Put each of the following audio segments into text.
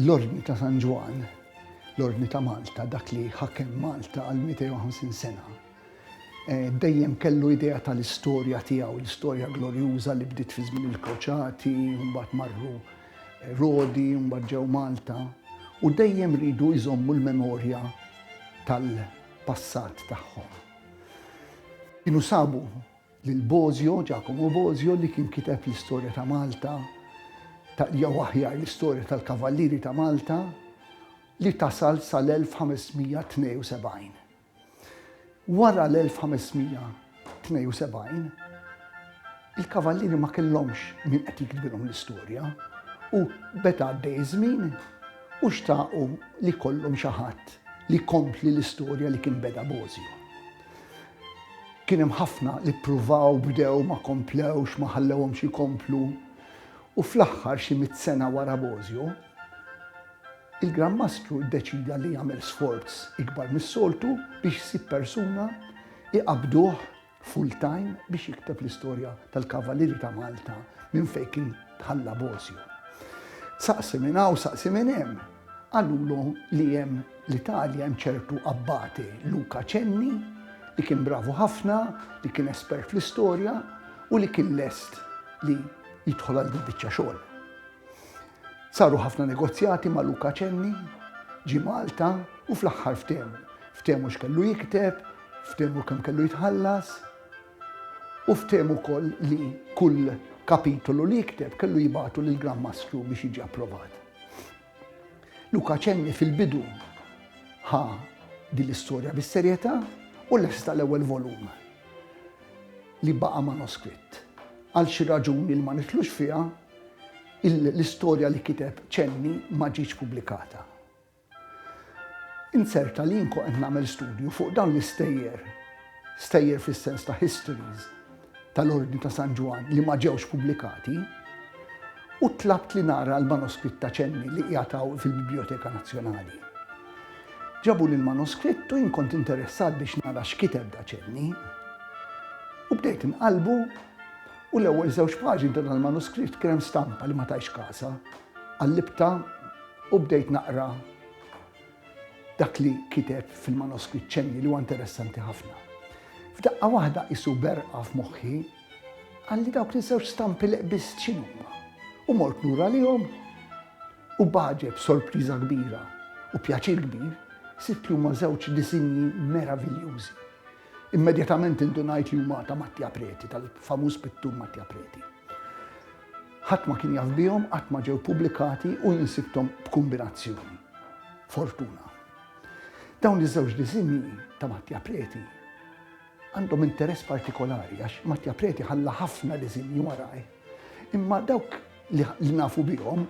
l-Ordni ta' San Ġwan, l-Ordni ta' Malta, dak li ħakem Malta għal 250 sena, eh, dejjem kellu idea tal-istorja tiegħu, l-istorja glorjuża li bdiet fi żmien il-koċati, mbagħad marru Rodi, mbagħad ġew Malta u dejjem ridu jżommu l-memorja tal-passat tagħhom. Kienu sabu lil Bozio, Giacomo Bozio, li kien kiteb l-istorja ta' Malta, jew aħjar l-istorja tal-Kavallieri ta' Malta, li tasal sal-1572. Wara l-1572, il-Kavallieri ma kellhomx min qed jiktbilhom l-istorja u beda għaddej iż-żmien u xtaqu li jkollhom xi ħadd li jkompli l-istorja li kien beda Bosio. Kien hemm ħafna li ppruvaw, bdew, ma komplewx, ma ħallewhomx ikomplu u fl-aħħar xi mitt sena wara Bosio, Il-Gran Mastru ddeċieda li jagħmel sforz ikbar mis-soltu biex isib persuna iqabbduh full-time biex jikteb l-istorja tal-Kavalieri ta' Malta minn fejn kien tħalla Bosio. Saqsi minn hawn, saqsi minn hemm, qalulu li hemm l-Italja hemm ċertu abbati Luca Cenni li kien bravu ħafna, li kien espert fl-istorja u li kien lest li jidħol għal din biċċa xogħol. Saru ħafna negozjati ma' Luca Cenni, ġie Malta u fl-aħħar ftehmu. Ftehmu x'kellu jikteb, ftehmu kemm kellu jitħallas u ftehmu wkoll li kull kapitolu li jikteb kellu jibgħatu lill Gran Mastru biex jiġi approvat. Luca Cenni fil-bidu ħa din l-istorja bis-serjetà u lesta l-ewwel volum li baqa' manoskritt. Għal xi raġuni li ma nitlux fiha, L-istorja li kiteb Cenni ma ġietx pubblikata. Inzerta li jien kont qed nagħmel studju fuq dawn l-istejjer, stejjer fis-sens ta' histories, tal-Ordni ta' San Ġwann li ma ġewx pubblikati, u tlabt li nara l-manoskritt ta' Cenni li qiegħed hawn fil-Bibljoteka Nazzjonali. Ġabuli l-manoskritt u jien kont interessat biex nara x'kiteb da Cenni. U bdejt inqallbu. U l-ewwel żewġ paġni ta' dal-manuskritt kien hemm stampa li ma tajtx kasha. Qallibtha u bdejt naqra dak li kiteb fil-manuskritt ċenni li huwa interessanti ħafna. F'daqqa waħda qisu berqa f'moħħi għalli dawk li żewġ stampi li qbist x'inhuma. U mort lura lihom u baġeb sorpriża kbira u pjaċir kbir sibt li huma żewġ disinji meraviljużi. Immedjatament indunajt li huma ta' Mattia Preti, tal-famuż pittur Mattia Preti. Ħadd ma kien jaf bihom, qatt ma ġew pubblikati u jien sibthom b'kumbinazzjoni. Fortuna. Dawn iż-żewġ diżinji ta' Mattia Preti għandhom interess partikolari għax Mattia Preti ħalla ħafna diżinji waraj. Imma dawk li nafu bihom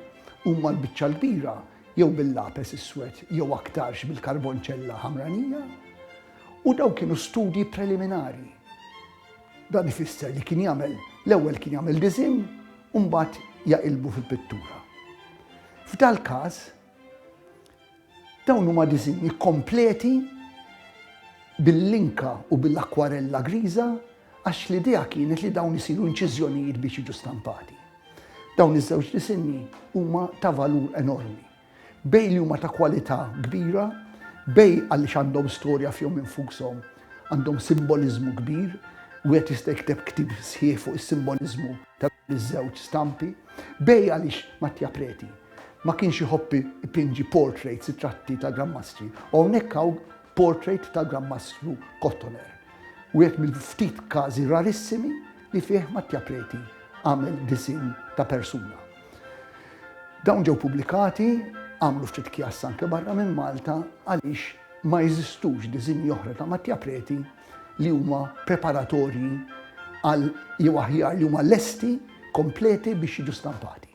huma l-biċċa l-kbira jew bil-lapes iswed jew aktarx bil-karbonċella ħamranija U dawn kienu studji preliminari. Dan ifisser li kien jagħmel l-ewwel kien jagħmel diżinn u mbagħad jaqilbu fi pittura. F'dal-każ dawn huma diżinji kompleti bil-linka u bil-akwarella griża għax l-idea kienet li dawn isiru inċiżjonijiet biex jiġu stampati. Dawn iż-żewġ disinni huma ta' valur enormi. Bej li huma ta' kwalità kbira, bej għaliex għandhom storja fihom infushom, għandhom simboliżmu kbir, wieħed jista' jikteb ktieb sħiħ fuq is-simboliżmu ta' dawn iż-żewġ stampi, bej għaliex Mattia Preti ma kienx iħobb ipinġi portraits, ritratti ta' Gran Mastri, u hawnhekk hawn Portrait tal-Gran Mastru Kottoner, wieħed mill-ftit każi rarissimi li fih Mattia Preti għamel disinn ta' persuna. Dawn ġew pubblikati għamlu ftit kjass anke barra minn Malta għaliex ma jeżistux diżinji oħra ta' Mattia Preti li huma preparatorji għal jew aħjar li huma lesti kompleti biex jiġu stampati.